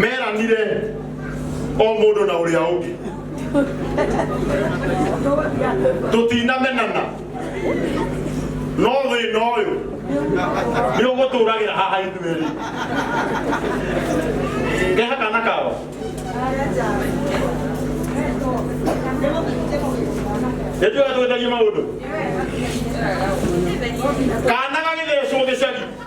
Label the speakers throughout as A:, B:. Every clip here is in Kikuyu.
A: meranire o mũndũ na ũrĩa ũngĩ tũtinamenana no thĩna ũyũ nĩ ũgũtũragĩra haha ithuerĩ keha kana kao nĩtũga twĩthagie maũndũ kana gagĩthecwo gĩcagi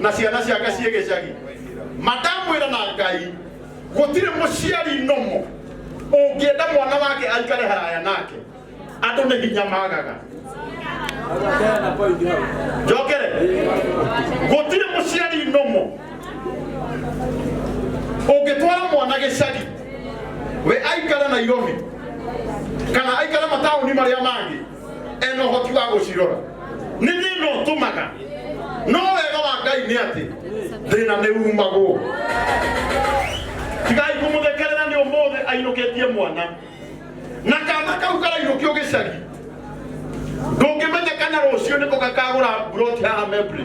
A: na ciana ciake ciĩ gĩcagi mandamwĩra na ngai gũtirĩ mũciari nomo ũngĩenda mwana wake aikare haraya nake andũ nĩ hinya magaga njokere gũtirĩ mũciari nomo ũngĩtwara mwana gĩcagi we aikare nairobi kana aikare mataũni marĩa mangĩ ena ũhoti wa gũcirora nĩ thĩna ũtũmaga no wega wa ngai nĩ atĩ thĩna nĩ umagwo tigai kũmũthekerera nĩ ũmũthĩ ainũkĩtie mwana na kana kau karainũkio gĩcagi ndũngĩmenya kana rũciũ nĩko gakagũra mburoti haha membri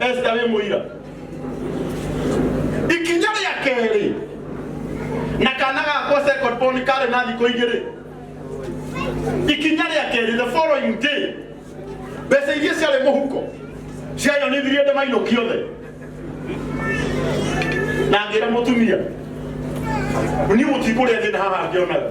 A: esita wĩ mũira ikinya rĩa kerĩ na kana gakwa second born karĩ na thikũ igĩrĩ ikinya rĩa kerĩ the following day mbeca iria ciarĩ mũhuko ciayonithirie ndĩ mainũki othe na ngĩra mũtumia niĩ mũtikũrĩa thĩna haha ngĩonaga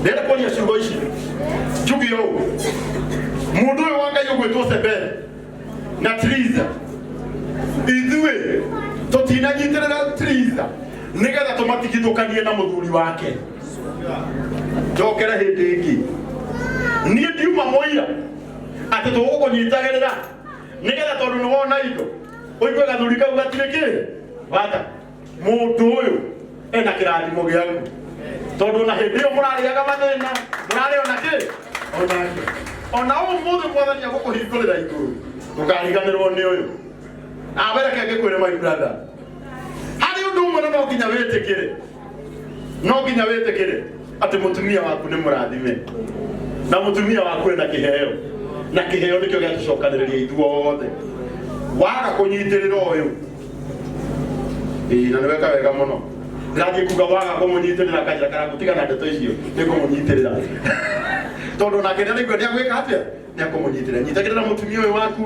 A: ndenda kuonia ciugo ici njugi ũũ mũndũ ũyũ wa ngai ũgwĩtwo sebere na tiriza ithuĩ tũtinanyitĩrĩra tiriza nĩgetha tũmatigithũkanie na mũthuri wake njokere hĩndĩ ĩngĩ niĩ ndiuma mũira atĩ tũgũkũnyitagĩrĩra nĩgetha tondũ nĩ wona indo ũigue gathuri kau gatirĩ kĩ bata mundu uyu ena kirathimo giaku tondu ona hindi iyo murariaga mathina murari ona ki onake ona umuthi mwathani agukuhingurira iguru ndukariganirwo ni uyu awereke ngikwire my brother hari undu umwe na no nginya witikire no nginya witikire ati mutumia waku ni murathime na mutumia waku ena kiheo na kiheo nikio giatucokaniriria ithuothe waga kunyitirira uyu Ĩĩ, na nĩweka wega mũno ngangĩkuga waga kũmũnyitĩrĩra kaja kana gũtiga na ndeto icio nĩ kũmũnyitĩrĩra tondũ nake nĩ araigua nĩ agwĩka atĩa nĩ akũmũnyitĩrĩra nyitagĩrĩra mũtumia ũyũ waku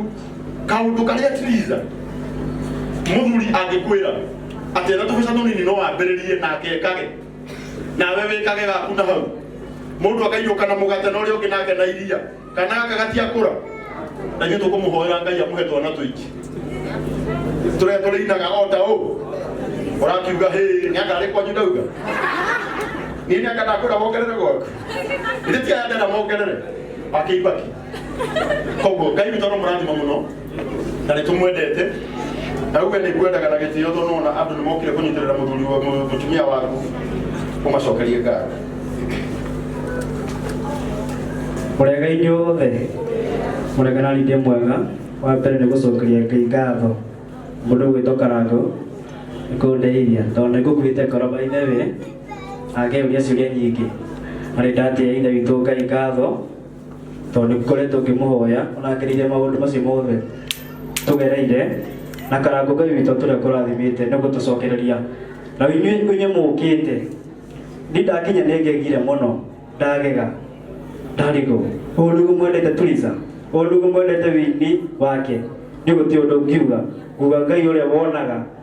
A: kaũndũ karĩa tiriza mũthuri angĩkwĩra atĩ ena tũbeca tũnini no wambĩrĩrie nake ekage nawe wĩkage gaku na hau mũndũ akaiyũka na mũgate na ũrĩa ũngĩ nake na iria kanaka gatiakura na ithuĩ tũkũmũhoera ngai amũhe twana tũingĩ tũrĩa tũrĩinaga o ta ũũ ũrakiuga hĩ nĩ akarĩ kwanyu ndauga niĩ nĩ akandakũra mongerere gwaku ithe ti aya ndenda mongerere akĩibaki koguo ngai witũ no mũrathima mũno na nä tå mwendete na uge
B: nä kwendaga na gä tä o tondå nona andå nä mokire kå nyitä rä ra må thuri wa- mũ- mũtumia waku å macokerie ngatho Mũrega-inĩ wothe mũreganani ndĩ mwega wa mbere nĩ gũcokeria ngai ngatho mũndũ gwĩtwo karango nĩ kũndeithia tondũ nĩ ngũkuĩte ngoro ba ithe we angĩũria ciũria nyingĩ na nĩ ndatĩa ithe witũ ngai ngatho tondũ nĩ ngoretwo ngĩmũhoya ũnagereire maũndũ macio mothe tũgereire na karango ngai witũ tũrĩa kũrathimĩte nĩ gũtũcokereria na inyuĩ inyuĩ mũũkĩte nĩ ndakinya nĩ ngegire mũno ndagega ndarigwo ũũ nĩguo mwendete turiza ũũ nĩguo mwendete wini wake nĩ gũti ũndũ ngiuga nguga ngai ũrĩa wonaga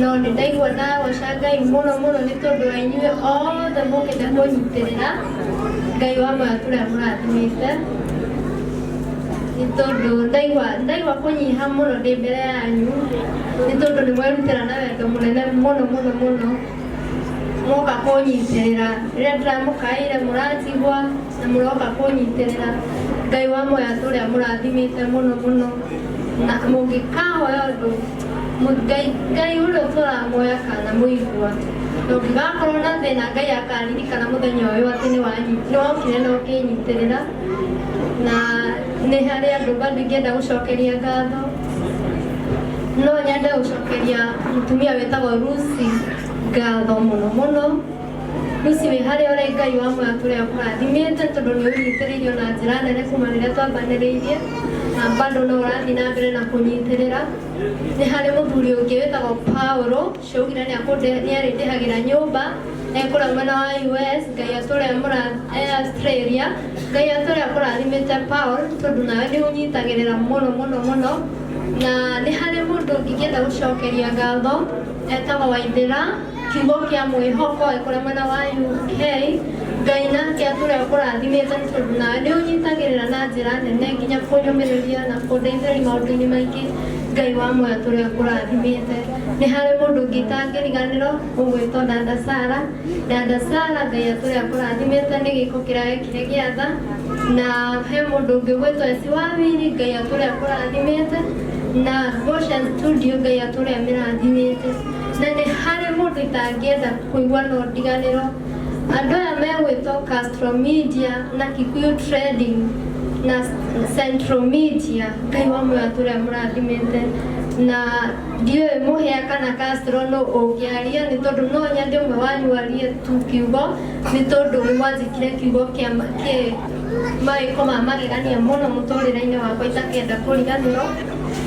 C: no nĩ ndaigua ndagoca ngai mũno mũno nĩ tondũ wa inyuĩ othe mũkĩte kũnyitĩrĩra ngai wa matũra mũrathimĩte nĩ tondũ ndaigua ndaigua kũnyiha mũno ndĩ mbere yanyu nĩ tondũ nĩ mwerutĩra na wendo mũnene mũno mũno mũno mũroka kũnyitĩrĩra rĩrĩa ndĩramũkaĩire mũranjigua na mũroka kũnyitĩrĩra ngai wa moya tũrĩa mũrathimĩte mũno mũno na mũngĩkahoya ũndũ Ngai, Ngai ũrĩa ũtũũraga muoyo akanamũigua. Na ũngĩgakorwo na thĩna, Ngai akaririkana mũthenya ũyũ atĩ nĩ wanyi- nĩ wokire na ũkĩnyitĩrĩra. Na nĩ harĩ andũ bado ingĩenda gũcokeria ngatho. No nyende gũcokeria mũtumia wĩtagwo Lucy ngatho mũno mũno. Lucy wĩ harĩa ũrĩ Ngai wa muoyo atũre akũrathimĩte tondũ nĩ ũnyitĩrĩirio na njĩra nene kuma rĩrĩa twambanĩrĩirie na bado no ũrathiĩ na mbere na kũnyitĩrĩra. Nĩ harĩ mũthuri ũngĩ wĩtagwo Paul cioigire nĩ akũnde- nĩ arĩndĩhagĩra nyũmba e kũrĩa mwena wa US Ngai atũre amũra- e Australia. Ngai atũre akũrathimĩte Paul tondũ nawe nĩ ũnyitagĩrĩra mũno mũno mũno na nĩ harĩ mũndũ ũngĩ ingĩenda gũcokeria ngatho etagwo Waithĩra Kiugo kĩa mwĩhoko kũrĩa mwena wa UK, Ngai nake atũre ũkũrathimĩte nĩ tondũ nawe nĩ ũnyitagĩrĩra na njĩra nene nginya kũnyũmĩrĩria na kũndeithĩrĩria maũndũ-inĩ maingĩ. Ngai wa muoyo atũre ũkũrathimĩte. Nĩ harĩ mũndũ ũngĩ itangĩriganĩrwo ũgwĩtwo dada Sarah. Dada Sarah Ngai atũre akũrathimĩte nĩ gĩĩko kĩrĩa wekire gĩa tha. Na he mũndũ ũngĩ ũgwĩtwo Esi Wawiri, Ngai atũre akũrathimĩte. Na Goshen Studio Ngai atũre amĩrathimĩte. Na nĩ harĩ mũndũ itangĩenda kũigua no ndiganĩro. Andũ aya megwĩtwo Castro Media na Kikuyu Trading na Central Media Ngai wa muoyo atũre amũrathimĩte na ndiũĩ mũhĩa kana Castro nũ ũngĩaria nĩ tondũ no nyende ũmwe wanyu arie tu kiugo nĩ tondũ nĩ mwanjĩkire kiugo kĩa ma- kĩ mawĩko ma magegania mũno mũtũrĩre-inĩ wakwa itakenda kũriganĩrwo.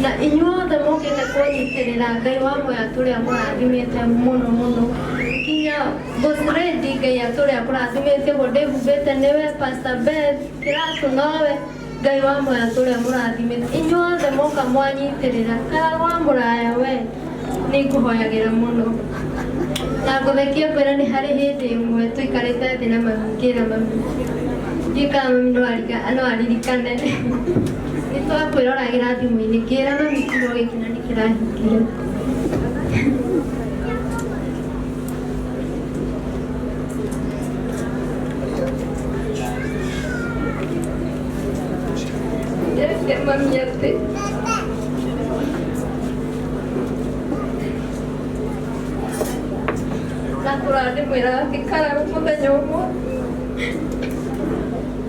C: Na inyuothe mũkĩte kũnyitĩrĩra Ngai wa moya tũrĩa mũrathimĩte mũno mũno kinya Bosredi Ngai atũrĩa kũrathimĩte ũguo ndĩhumbĩte nĩwe Pastor Beth Kĩratũ nowe Ngai wa moya tũrĩa mũrathimĩte inyuothe mũka mwanyitĩrĩra karwa mũraya we nĩ ngũhoyagĩra mũno na ngũthekie ngwĩra nĩ harĩ hĩndĩ ĩmwe tũikarĩte thĩ na mami ngĩra mami ndiũĩ kana mami no arika- no aririkane Nĩ twakwĩroragĩra thimũ-inĩ ngĩra na gĩkiro gĩkĩ na nĩ kĩrahingire. Ndĩrĩkia mami atĩ na kũrandĩmwĩra atĩ kararũ mũthenya ũmwe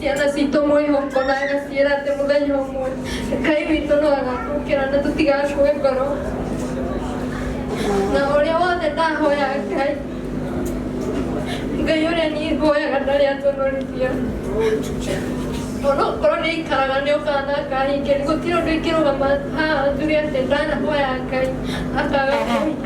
C: Ciana citũ mwĩhoko na agaciĩra atĩ mũthenya ũmwe Ngai witũ no agatũkĩra na tũtigakue ngoro. Na ũrĩa wothe ndahoya Ngai, Ngai ũrĩa niĩ hoyaga ndarĩ atũnũrithia. Onokorwo nĩ aikaraga nĩ okaga na akahingia, gũtirĩ ũndũ ingĩrũgama haha njuge atĩ ndanahoya Ngai akaga kũhingia.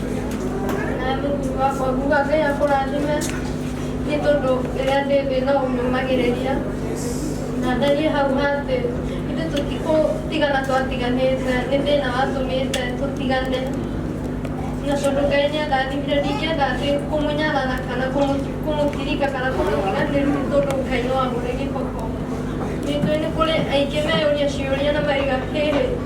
C: na Mungu wako Mungu Ngai akũrathime nĩ tondũ rĩrĩa ndĩ thĩ no ũnyumagĩrĩria na ndariĩ hau hatĩ ithuĩ tũtikũtigana twatiganĩte nĩ thĩna watũmĩte tũtigane na tondũ Ngai nĩ andathimire ndingĩenda atĩ kũmũnyarara kana kũmũ- kũmũtirika kana kũmũtiga nĩ rumu tondũ Ngai no amũre gĩboko nĩ tũĩ nĩ kũrĩ aingĩ meyũria ciũria na maiga hĩrĩ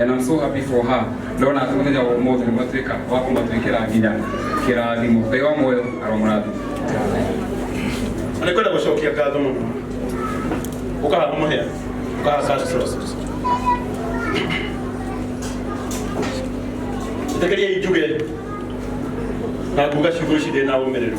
D: and I'm so happy for her ndona atĩ mũthenya wa ũmũthĩ nĩ matuĩka wa kũmatuĩkĩra nginya kĩrathimo ngai wa muoyo aromũrathima
A: Na nĩ kwenda gũcokia ngatho mũno ũkahanda mũhĩa ũkahanda cash roses ĩtĩkĩria injuge na nguga ciugo ici ndĩ na ũmĩrĩru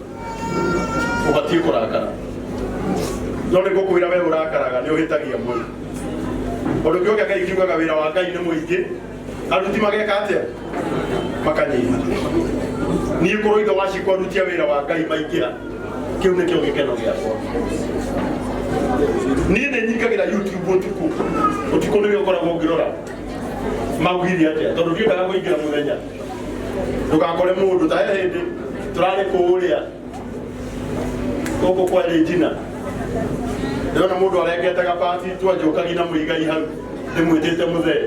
A: ubatiĩ kũrakara no nĩ gũkwĩra we ũrakaraga nĩ ũhĩtagia mũndũ ũndũ ũngĩ ũngĩ ngai kiugaga wĩra wa ngai nĩ mũingĩ aruti mageka atĩa makanyiha niĩ kũrũ ithe wacikwa rutia wĩra wa ngai maingĩha kĩu nĩkĩo gĩkeno gĩakwa niĩ nĩ nyingagĩra youtube ũtukũ ũtukũ nĩwe ũkoragwo ngĩrora maugire atĩa tondũ ndiendaga kũingĩra mũthenya ndũgakore mũndũ ta he hĩndĩ tũrarĩ kũũrĩa gũkũ kwa Regina ndĩrona mũndũ arengete gabati twanjũkagi na mũigai hau ndĩmwĩtĩte mũthee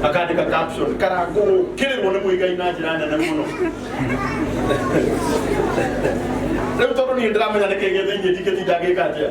A: akandĩka caption karangũkĩrĩrwo nĩ mũigai na njĩra nene mũno rĩu tondũ niĩ ndĩramenya nĩkĩgĩ thĩinĩ ndingĩtinda ngĩka atĩa